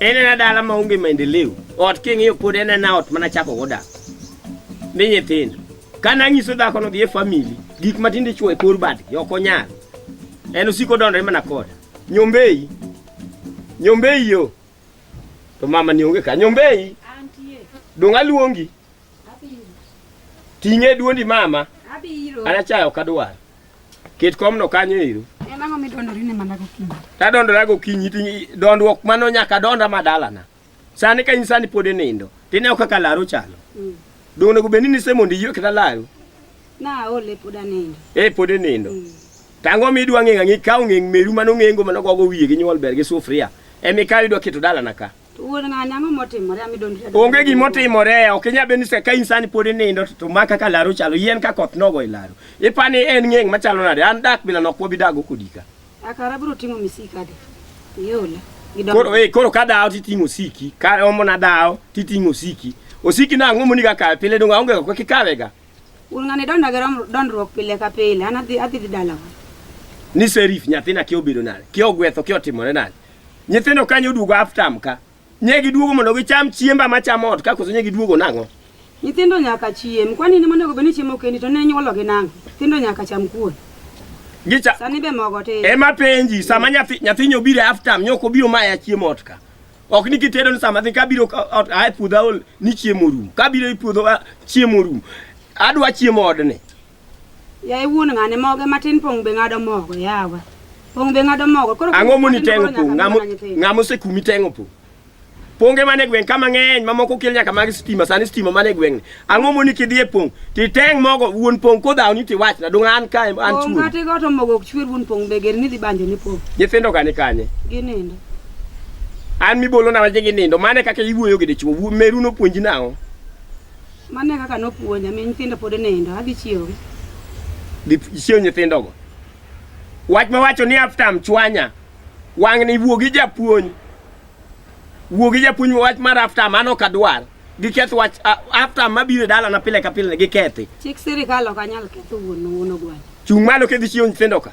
En en dala ma onge maendeleo. Ot king'iyo pod en en ot mana chako goda. Mi nyithindo. Kana anyiso dhako no dhi e family, gik matinde chwo e kor bad, ok onyal. En osiko dondre mana koda. Nyombei. Nyombei yo. To mama ni onge ka. Nyombei. Antie. Donga luongi. Abiro. Ting'e duondi mama. Abiro. Anachayo kadwar. Ket komno kanyo ero. En ang'o midondori ne mana gokinyi? Tadondora gokinyi to dondruok mano nyaka donda ma dalana. Sani ka in sani pod inindo, tineo kaka laru chalo. Mm. Donge onego bed ni nise mondo iywe kata laru? Naole pod anindo. Eh pod inindo. Mm. Tango mi idwa ng'eng' ang'e ka ong'eng' meru mano ng'engo mano gogo wiye gi nyuol ber gi sufria. Emi ka idwa keto dalana ka. Onge gima otimore, ok inyal bedo ni ka in sani pod inindo to ma kaka laro chalo yien ka koth nogo e laro. Ipa ni en ng'eng' machalo nade? An dak bila nok wabi dago kodika. Akara biro ting'o misika de. Yola. Koro eh koro ka dawo titing'o osiki, ka omo na dawo titing'o osiki. Osiki na ang'o moni ga kawe pile donga onge ko kikawe ga. Un ng'ani donda ga dondruok pile ka pile, an adhi adhi dalawa. Ni serif nyathina kiobedo nade? Kiogwetho kiotimore nade? Nyithindo kanyo duogo aftam ka. Nye giduogo mondo gicham chiemba machamo ot ka koso nye giduogo nang'o? Nyithindo nyaka chiem. Kwani ni monego beni chiemo kendi to ne nyuolo gi nang'o? Nyithindo nyaka cham kuon. Gicha. Sani be mogo te. Ema penji sama nyathi nyathi nyo biro aftam nyo ko biro maya chiemo ot ka. Ok ni kitedo ni sama ka biro ot a puodho ol ni chiemo rum. Ka biro i puodho chiemo rum. Adwa chiemo odne. Yaye wuon ng'ane moge matin pong' be ng'ado mogo yawa. Pong' be ng'ado mogo. Koro ang'o moni tengo pong' ng'amo ng'amo sekumi tengo pong' ponge mane gweng' ka mang'eny mamoko kel nyaka mag stima sani stima mane gweng' ang'o moni kidhi e pong' titeng' mogo wuon pong' kodhaw ni tiwachna dong an ka an chuo ng'ate go to mogo ok chuer wuon pong' be ger ni dhi banjo ni pong' nyithindo gani kanye ginindo an mibolo na waje ginindo mane kaka iwuoyo gi dichwo meru nopuonji nang'o Mano e kaka nopuonja, mi nyithindo pod nindo, adhi chiewogi. Dhi chiew nyithindogo. Wach ma wacho ni aftam chwanya, wang' ni wuo gi japuonj. Wuo gi japuonj wach mar aftam, an ok adwar. Giketh wach a- aftam mabiro e dalana pile ka pile, gikethi. Chik sirikal ok anyal ketho wuon wuon ogwal. Chung' malo kidhi chiew nyithindo ka.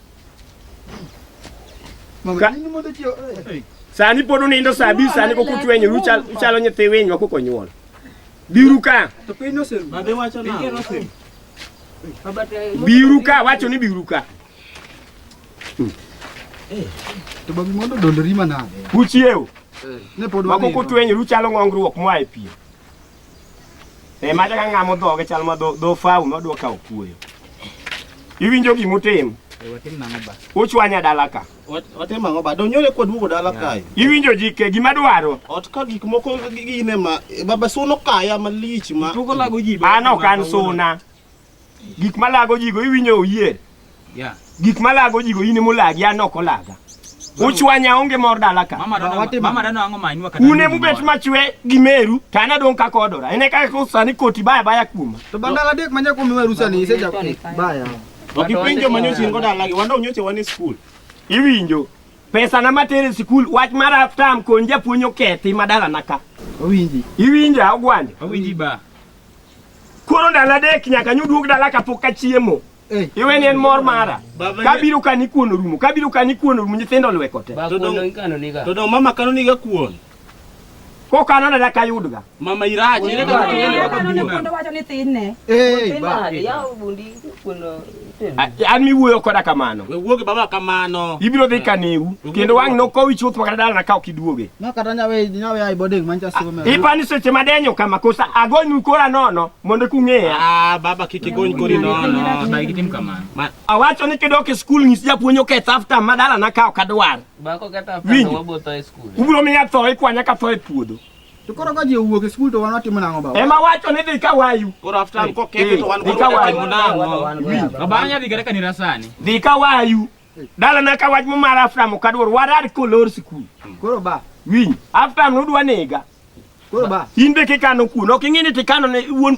Sani pod unindo saa abich sani kok utwenyo uchalo nyithi winy ma kok onyuol. Biuru ka. Biuru ka wacho ni biuru ka. To babi mondo dolori manade. Uchiew. Ne pod wako kutwenyo uchalo ng'ongruok moa e piem. E ma chaka ng'ama odhoge chal ma dho dho fau ma dwa kawo kuoyo. Iwinjo gima utim? Eh, watim nang'o ba? Uchwanya dala ka. Watim ang'o ba? Donyore kwa duogo dala kae. Iwinjo jike gima dwaro? Ot ka gik moko gi- gine ma baba suno kaya malich ma Tuko lago ji ba. An ok an suna. Gik malago jigo iwinjo oyie. Yeah. Gik malago jigo in mulagi an ok olaga. Uchwanya onge mor dala ka. Mama dano Wate- mama dano ang'o manyi wakati. Une mubet machwe gi meru to an adong' kaka odora. Ene kaka koro sani koti baya baya kuoma. To bandala adek manya kuom miwa rusa ni iseja baya. Ok ipenjo manyo chingo dalagi, wanda unyoche wan e skul. Iwinjo. Pesa na matere sikul wach mar aftam kon japuonj okethi madala naka. Owinji. Iwinja ogwande. Awinji ba. Koro ndalo adek nyaka nyu duog dala kapok achiemo. Iweni en mor mara. Baba, Kabiro ka ni kuon orumo, kabiro ka ni kuon orumo nyithindo lweko te. Ba To kuon dong- ikano niga. To dong' mama kano niga kuon. Kokano dala kayudga. Mama irach. Ere kaka Ere kaka noneno kuon owacho ni thinne? Ei, Thin ba. nade? Yaw bundi kuon an miwuoyo koda kamano we wuoge baba kamano ibiro dhi kaniu kendo wang' nokowi chuth makata dalana ka ok iduoge ipani seche madenyo kama kosa agonu kora nono mondo kung'eya ah, baba kik igony kori nono awacho ni kidok e skul nyis japuonj oketh afta madalana ka ok adwar ubiro miya tho ikwanya ka tho e puodho To koro ka ji owuok e skul to wan watimo nang'o baba? Ema wacho ni dhi ka wayu. Koro after an kokete to wan Dhi ka wayu. watimo nang'o? Baba anya dhi kata kanira sani. Dhi ka wayu. Dala na ka wach momar after mo kadwor warar kolor skul. Koro ba. Winy. After no udwa nega. Koro ba. In be kikano kuno. Ok ing'e ni tikano ne wuon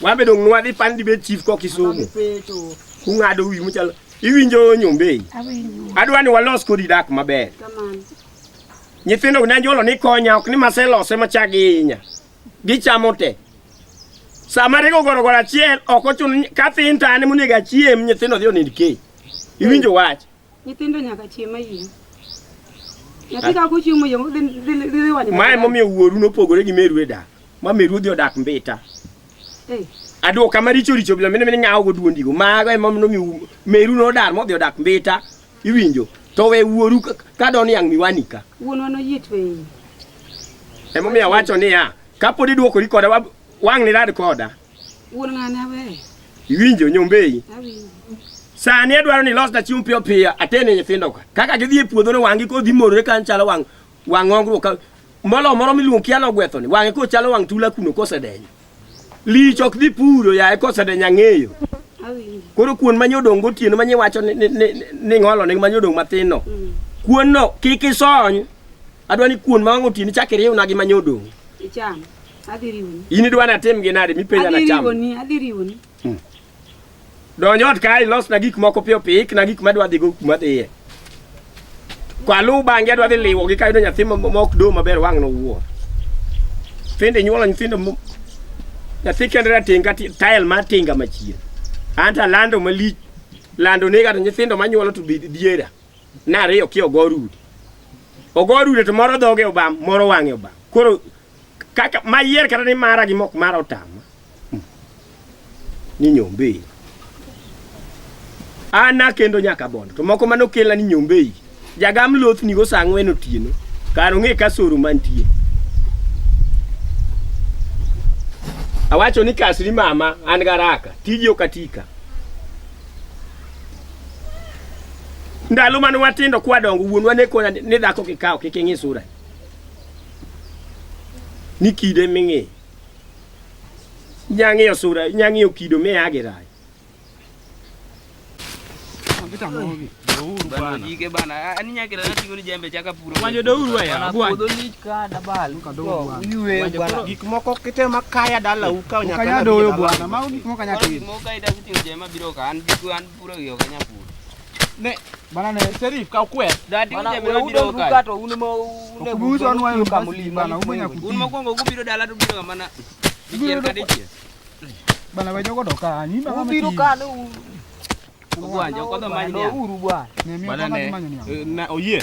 Wan be dong' nwadhi pan dibed chief ko Kisumu. Kung'ado wi muchal. Iwinjo nyombei. Adwa ni walos kodi dak maber. Nyithindo gi nanjolo ni konya ok ni maselose machagi inya. Gichamo te. Sama rego goro goro achiel ok ochun ka thin tane monego achiem nyithindo dhi onind ke. Iwinjo wach. Nyithindo nyaka chiem mayieng'. Nyathi ka kochiemo yo dhi dhi dhi wanyo. Mae momiyo wuoru nopogore gi meru e dak. Ma meru odhi odak mbita. Eh. Aduoka maricho richo bila mine mine ng'awo go duondigo. Mago ema nomiyo meru nodar modhi odak mbita. Iwinjo? To we wuoru ka- ka don yang' miwani ka. Wuonwa noyie tweyi. Emomiyo awacho niya, kapod iduokori koda wab- wang'ni rad koda. Wuon ng'ane aweyo. Iwinjo nyombei? Awinjo. Sani adwaro ni losna chiemo piyo piyo atene nyithindo ka. Kaka gidhi e puodho no wang'gi kodhi morore kan chalo wang' wang' ongruok ka molo moro miluongo kia no gwetho ni wang'e ko chalo wang' tula kuno kosedenyo. Lich ok dhi puro yaye kosedenyo ang'eyo. Awinjo. Koro kuon ma nyodong' gotieno ma nyiwacho ni ni- ni- ni ng'olo ni ma nyodong' matin no. Mm. Kuon no kik isony. Adwaro ni kuon ma wang'o otieno chak iriwna gi ma nyodong'. Icham. Adhi riwoni. In idwa natim gi nade mipenja na cham? Adhi riwoni, adhi riwoni. Hmm. Donj ot kae ilosna gik moko piyo piyo, ikna gik madwa dhigo kuma dhiye. Kwaluw bang'e adwa dhi liwo gi kayudo nyathi mok do maber wang' nowuo. Tinde nyuolo nyithindo nyathi kende rating' ka tael mar tinga machien. Anta lando malich lando nega to nyithindo manyuolo to diera nariyo ki ogorudi ogorudi to moro dhoge obam moro wang'e obam koro kaka mayier kata ni mara gi mok mara otama hmm. ni nyombei ana kendo nyaka bondo to moko mano kela ni nyombei jagam loth ni go sangwe no tieno karo nge ka soru mantie awacho ni kasri mama an garaka tiji okatika ndalo mane watindo kwadongo wuonwa ne kona ni dhako kikawo kik ing'i sura ni kide ming'i nyang'iyo sura nyang'iyo kido miyagi rai gik moko kitema kaya dala uka nyaka doyo bwana mago gik moko nyaka Ne bana ne Sheriff ka kwe. Dadi uje biro biro ka. To un mo ne buzo anwa yo kamuli bana umenya kuti. Un mokwongo gubiro dala to biro mana. Dikier ka dikier. Bana wejo godo ka ni bana. Ubiro ka no. Ubwanja kwa manyo. Uru bwana. Ne mi kwa manyo. Na oyie.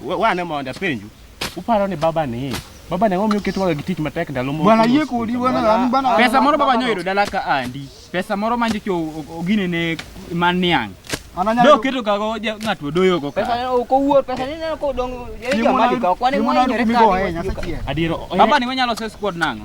Wane mondo apenju. Uparo ni baba ni Baba ne omiyo ketwaga gi tich matek ndalo moko. Bwana yie kodi bwana an bwana. Pesa moro baba nyoyudo dala ka andi. Pesa moro manjo cho ogine ne man niang. Do keto kago ng'at odoyo go ka. Pesa ok owuor, pesa ni ne ko dong jeri jo mali ka kwani mo nyere ka. Adiero. Baba ni wanyalo se squad nango.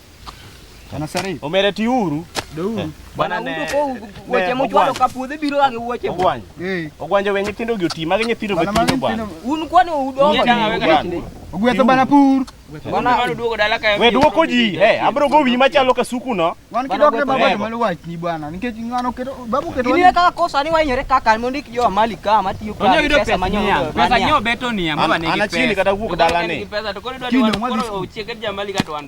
Bwana Sari. Omera ti uru. Douru. Eh, bwana ne. Weche mochwalo ka puodhe biro ga gi wuoche. Ogwany. Eh. Ogwanje we nyithindo gi oti magi nyithindo be tindo bwana. Un kwani udongo. Ogwetho bana pur. Bwana walo duogo dala kayo. We duoko ji. Eh, abro go wi machalo ka suku no. Wan kidok ne baba malo wach ni bwana. Nikech ngano keto babu keto. Ni ka kosa ni wanyore kaka mondo ik jo mali ka matiyo ka. Onyo yudo pesa manyo. Pesa nyo beto ni amaba ne gi pesa. Ana chini kata wuok dala ni. Pesa to koro dwa ni walo chiege jamali ka to wan.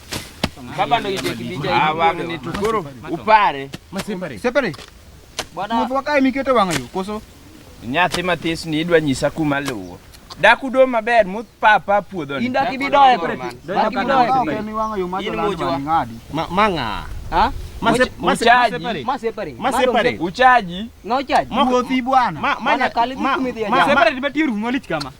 Baba ndo ije kibija ah, wang ni tukuru upare. Masepare. Separe. Bwana. Mtu wakae miketo wanga yo koso. Nyathi matis ni idwa nyisa kuma luwo. Daku do maber mut papa puodho ni. Inda kibidoe kore. Inda kibidoe. Mi wanga yo macho lando ngadi. Manga. Ha? Masepare. Uchaji. Uchaji. Moko thi bwana. Masepare ni batiru ngolichkama.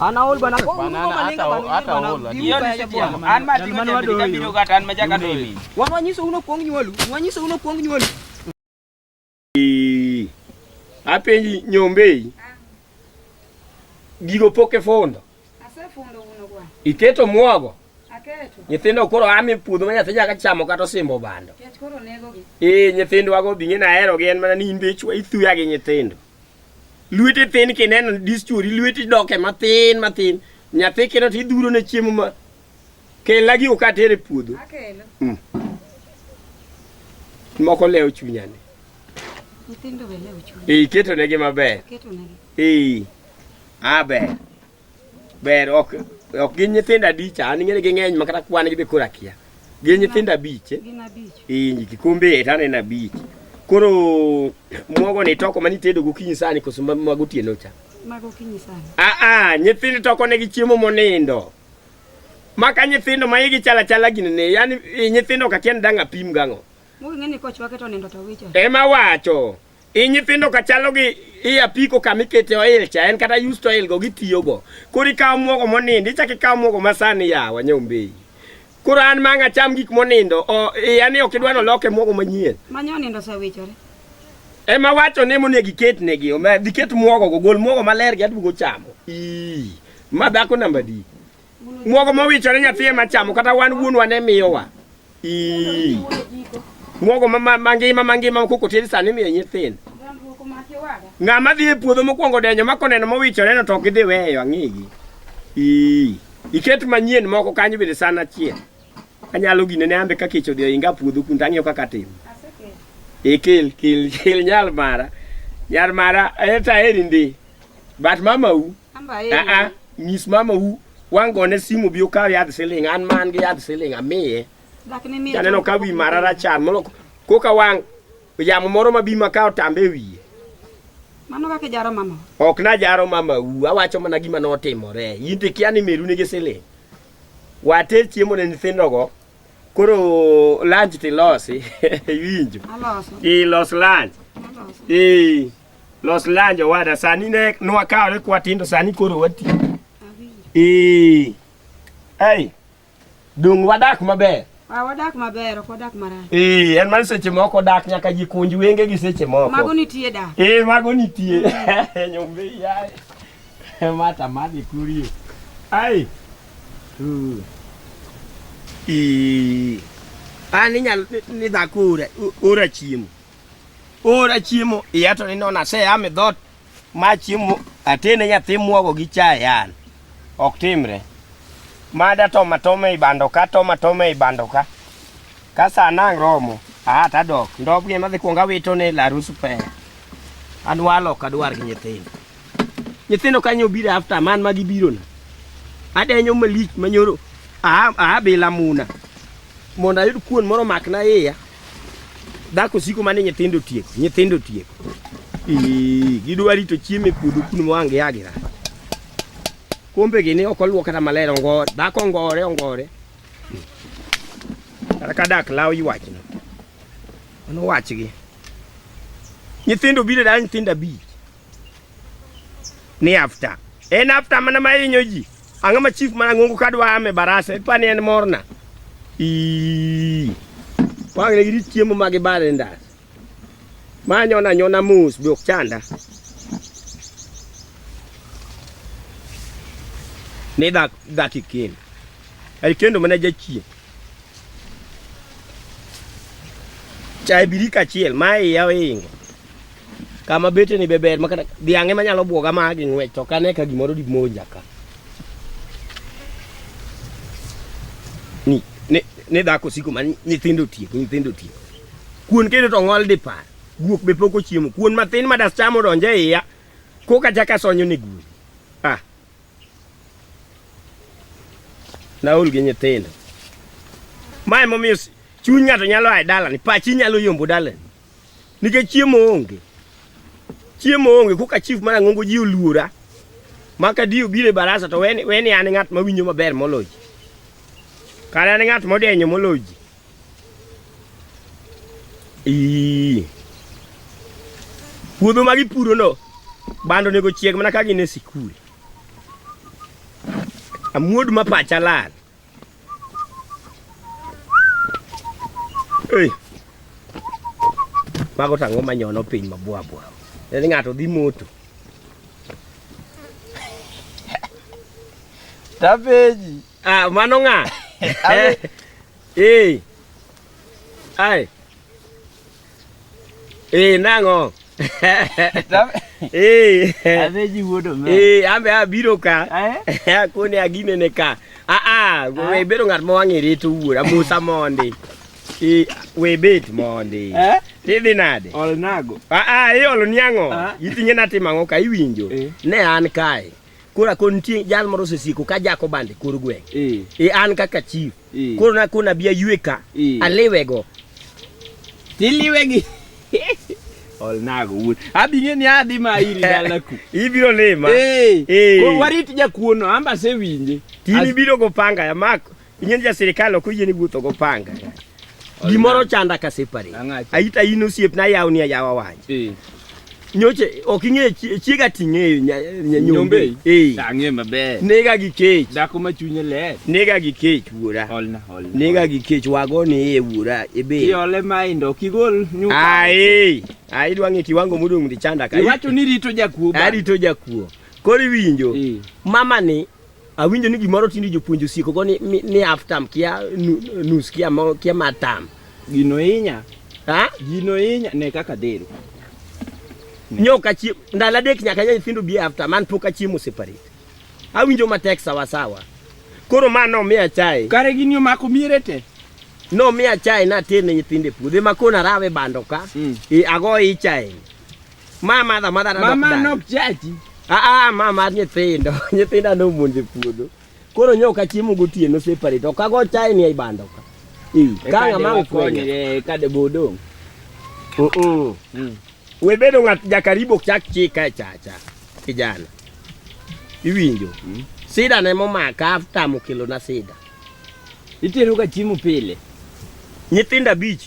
Ana hol bana. Bana hata hata hol. Hiyo ni seti ya. An ma tingo je bidika biro kata an ma jaka do mi. Wa wanyiso uno kuong nyolu. Wanyiso uno kuong nyolu. Apenji nyombe. Gigo poke fondo. Ase fondo uno kwa. Iketo mwago. nyithindo koro ame puodho ma nyathi nyaka chamo kata osimbo bando ee nyithindo wago binge na aherogi en mana ni in be ichwa ithuya gi nyithindo Lwete thin kineno dischori lweti doke mathin mathin. Nyathi kineno to idhuro ne chiemo ma kela gi uka tere puodho. Akelo. Mm. Moko leo chunyani. Nyithindo be leo chunyani. Ee, iketo negi maber. Iketo negi. Ee. Abe. Ber ok ok gin nyithindo abich an ng'eni ging'eny ma kata kwan gidhi koro akia. Gin nyithindo abich. Eh? Gin abich. Inji kikombe et aneno abich. Koro mwogo ni toko mani tedo gokinyi sani koso mago tieno cha. Mago kinyi sani. Ah ah nyithindo toko ne gi chiemo monindo. Maka nyithindo ma igi chala chala gini ne yani nyithindo ka kien danga pim gango. Mugeng'e ni kochwake to nindo to wicho. Ema wacho. I nyithindo ka chalo gi i apiko kama ikete oil cha en kata used oil go gitiyogo. Koro ikawo mwogo monindo ichako ikawo mwogo masani yawa nyombei. Koro an ma ang' acham gik monindo o, iya ni ok idwa noloke mwogo manyien. Manyo nindo osewichore. Ema wacho ni monego iketnegi ome- dhi ket mwogo go gol mwogo maler gi aduogo chamo. Ii, ma dhako namba di. Muogo mowichore nyathi ema chamo kata wan wuonwa ne miyowa. Ii. Muogo ma- ma- mangima mangima ma koko tiedi sani miyo nyithindo. Ng'ama dhi e puodho mokwongo denyo ma koneno mowichore no to ok idhi weyo ang'egi. Ii. Iket manyien moko kanyo bende san achiel. Anyalo gine ne ambe ka kech odhi oinga puodho kun tang'iyo kaka timo. E kel kel kel nyal mara. Nyar mara eta eri ndi. But mamau Aa, nyis mama u wang' gone simu bi okaw yadh siling an man gi yadh siling amiye janeno ka wi mara rachar molo koka wang' yamo moro ma bi ma ka otambe e wiye Mano kaka ijaro mama. ok najaro mama u awacho mana gima notimore in to ikia ni meru nigi siling water chiemo ne nyithindogo koro lunch tilosi iwinjo Aloso. ilos lunch Aloso. ee Los lunch owada, sani ne nwakawo ne kwa tindo, sani koro wati. Ee. Ei. Dung wadak maber. Ah, wadak maber, ok wadak marach. Ee, en man seche moko dak nyaka ji kunj wenge gi seche moko. Mago nitie dak. Ee, mago nitie. Mm. Nyombe yaye. Mata madi kurie. Ai. Uh. Ee. Ani nyal ni dakure, ura chiemo. Ora chiemo, iya to ni nona se ame dhot ma chiemo atene nyathi muogo gi chai an. Ok timre. Mada to matome i bando ka to matome i bando ka. Ka sa nang romo, a ta dok. Ndop gi ma dhi kuonga wito ne la rusu pe. An walo ka dwar gi nyithindo. Nyithindo kanyo biro after man ma gibiro na. Adenyo malich manyoro a a bila muna. Mondo ayud kuon moro makna iya. Dhako siko mane nyithindo tieko, nyithindo tieko. Ii, gidwa rito chiemo e puodho kuno mwange yagira. Kombe gini ok oluok kata maler ongo, dhako ongore ongore. Kata ka dak law ywachno. Mano wachgi. Nyithindo biro da nyithindo abich. ni after en after mana mahinyo ji ang'o ma chief mana ng'ongo ka dwa ame barasa ipa ni en morna wang' ne girit chiemo ma gibare ndas ma anyona anyona mos be ok chanda ni dak dak ikendo ai kendo mana jachien chai birika achiel ma iya ohingo Kama bete ni be ber makata dhiang'e manyalo bwoga ma gi ng'wech to kane ka gimoro di monja ka. Ni ne ne dhako siko ma nyithindo tiek nyithindo tiek. Kuon kendo to ng'ol di par. Guok be poko chiemo. Kuon matin ma das chamo donje iya. Koka chaka sonyo ni guok. Ah. Naol gi nyithindo. Mae momiyo chuny ng'ato nyalo aye dalani, pachi nyalo yombo dalani. Nikech chiemo onge. Chiemo onge koka chief mar Ang'ongo ji oluora. Maka di obire barasa to weni weni an ng'at ma winyo maber moloji. Kare an ng'at modenyo moloji. Ii. Puodho ma gipuro no bando nego chieg mana ka gin e sikul. Amuodu ma pacha lal. Hey. Mago tang'o manyono piny mabwabwa. En ng'ato dhi moto. Tapeji. Ah, mano ng'a? Abe. Eh. Ai. Eh nang'o? Eh. Aveji wuod omera. Eh ambe abiro ka. Eh. Kone agine ne ka. Ah ah, we ah. bedo ng'at ma wang'e rito wuora Musa mondi. Eh we bet mondi. Eh. Tidhi nade? Ol nago. Ah ah, iolo niang'o? Ah. Itinge na timo ang'o ka iwinjo? Eh. Ne an kae. Kora kon tie jal moro sesiko ka jako bande kor gweng'. Eh. eh an kaka chief. Eh. Koro na kuna bia yueka. Eh. Alewego. Tiliwegi. Olnago wuod. Abi ng'e ni adhi ma iri dalaku. Ibiro lima. Eh. Eh. Koro warit jakuono amba se winje. Tini biro go panga ya mako. Ing'e ja sirikal ok oyie ni wuotho go panga. Gimoro chanda ka separate. Ang'acha. Aita in osiepna yawni ayawa wach. Eh. nyoche ok ing'e chiega ting'eyo nyanyombe eh. ang'e maber nega gi kech dhako ma chunye ler nega gi kech wuora holna holna nega gi kech wago ni e wuora ebe iole mai ndo kigol nyuka ai eh. ai dwa ng'e kiwango modong' ndi chanda kai iwacho ni rito jakuo arito jakuo koro iwinjo eh. mama ni Awinjo ni gimoro tinde jopuonj osieko go ni, ni, ni half term kia nu- nus kia mo kia matam. Gino inya, Ha? gino inya ne kaka dhero. Nyoka chi ndala dek nyaka nya nyithindo bi half term man pok achiemo separate. Awinjo matek sawa sawa. Koro ma no miya chai. Kare gini omako miere te. No miya chai na terne nyithinde puodhe ma kona rawe bando ka. Mm. E ago icha en. Mama adha madha na Mama dok nok chachi. Ah ah mama nyithindo, nyithinda no muonje puodho. Koro nyoka chiemo gotieno separate. Ok ago chai ni ibando ka. Eh, kanga mangu konye eh, kade bodo. Uh -uh. Mm. We bedo ngat jakaribo chak chika e chacha. Kijana. Iwinjo. Mm. Sida ne momaka after mukilo na sida. Itero ga chiemo pile. Nyithinda beach.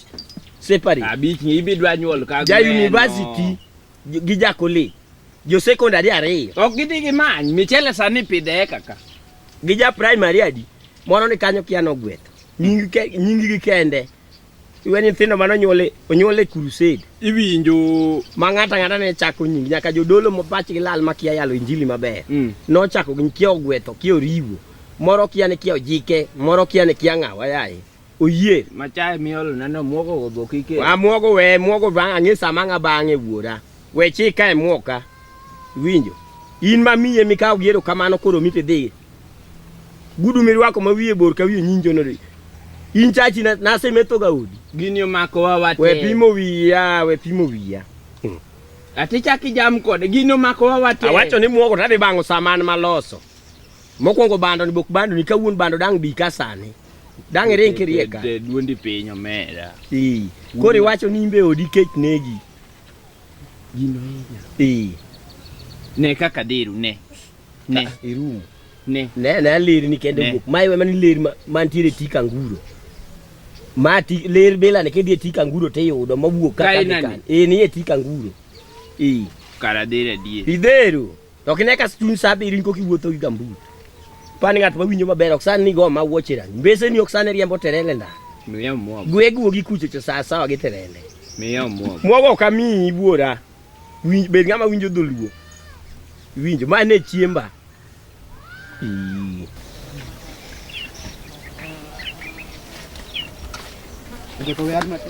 separate. Abich ni ibidwa nyuol ka Ja university gi ja college. Jo secondary ariyo. Ok gidhi gi many. Michele sani pidhe kaka. Gi ja primary adi. Moro ni kanyo kia nogwetho. Nying ke nying gi kende. Iwe nyithindo mano nyuole onyuole crusade. Iwinjo ma ng'ata ng'ata ne chako nying nyaka jodolo mopach gi lal makia yalo injili maber. Mm. Nochako gi kia ogwetho kia oriwo. Moro kia ni kia ojike, moro kia ni kia ng'awa yaye. oyie machaye miolo neno muogo go boki ke a muogo we muogo bang ang'e sama ng'a bang'e wuora we chika e muoka winjo in ma miye mikawo giero kamano koro mite dhi gudu mirwako ma wiye bor ka wiye nyinjo no in chachi na, na se meto ga udi gini omako wa wate we pimo wiya we pimo wiya hmm. ati chaki jam kode gini omako wa wate awacho ni muogo tadhi bang'o saman maloso Mokwongo bando ni bok bando ni kawuon bando dang' bi ka sani. Dang' iring kiriek ka. De- de- Duondi piny omera. Ee. Koro iwacho ni imbe odi kech negi. Gino hinya. Ee. Ne kaka diru ne. Ne. Irumo. Ne. Ne ne ler ni kende Ne. bok. Mai wemani ler ma- mantiere tik anguro. Ma ti ler bila ni kidhi e tik anguro tiyudo mawuok Ka kaka inani. dikan. Ee ni e tik anguro. Ee. Kara dhera die. Idhero. To ok ine ka chuny sa abiriyo in koka iwuotho gi gambut. Pan ng'at ma winjo maber ok san ni go ma wuoch e rangi. Mbese ni ok san riembo terele nda. Miya mwogo. Gwe guo gi kuchocho sa sawa gi terele. Miya mwogo. Mwogo ok amiyi wuora. Winj bed ng'ama winjo dholuo. Winjo ma ne chiemba. Ii. Ndiko yar mate.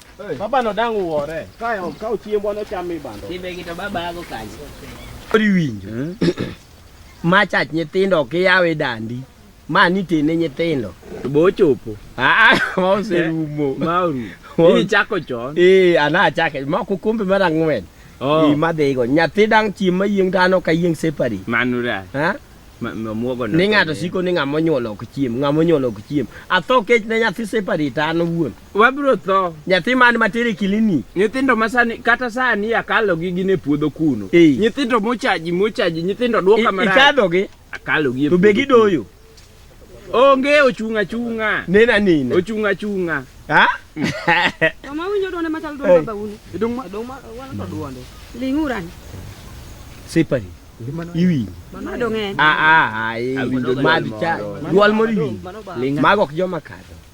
Baba no dang uore. Kayo ka uchiembwa no cham ibando. Timbe gi to baba ago kanyo. Ori winjo. Hmm? Ma chach nyithindo ok yawe dandi. Ma ni tene nyithindo. To bo chopo. Ah, ma oserumo. Eh, ma oru. Ni chako chon. Eh, ana chake. Ma ku kumbe mara ngwen. Oh. Ni ma dego. Nyathi dang chim ma yieng dano ka yieng separi. Manura. Ha? ni ng'ato siko ni ng'ama onyuolo ok chiem ng'ama onyuolo ok chiem atho kech ne nyathi separate an owuon Wabiro tho. Nyathi man matere kilini. Nyithindo masani kata sani akalo gi gine puodho kuno. Hey. Nyithindo mochaji mochaji nyithindo duoka mara. Ikadho gi. Akalo gi. To be gidoyo. Onge ochunga chunga. Nena nina. Ochunga chunga. Ha? Mama winjo donde machal donde baba uni. Dong ma dong ma wan to duonde. Linguran. Separi. iwinjo ah, ah, ah, eh, madh cha dwol moro iwinjo mago ok joma kadho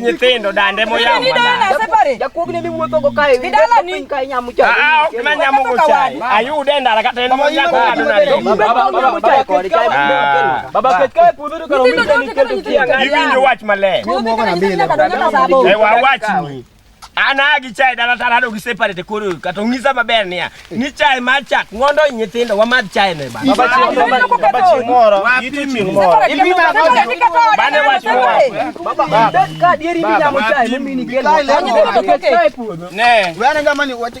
nyithindo dande moyamoayude e ndara kata en moyakoiwinjo wach maler wawachni An a gi chai dala tara do gi separate koro kata ong'isa maber niya ni chai mar chak mondo nyithindo wamadh chai ne bana. Baba chieng' moro, baba chieng' moro, ito chieng' moro. Bane wach moro. Ne. Wena jamani wati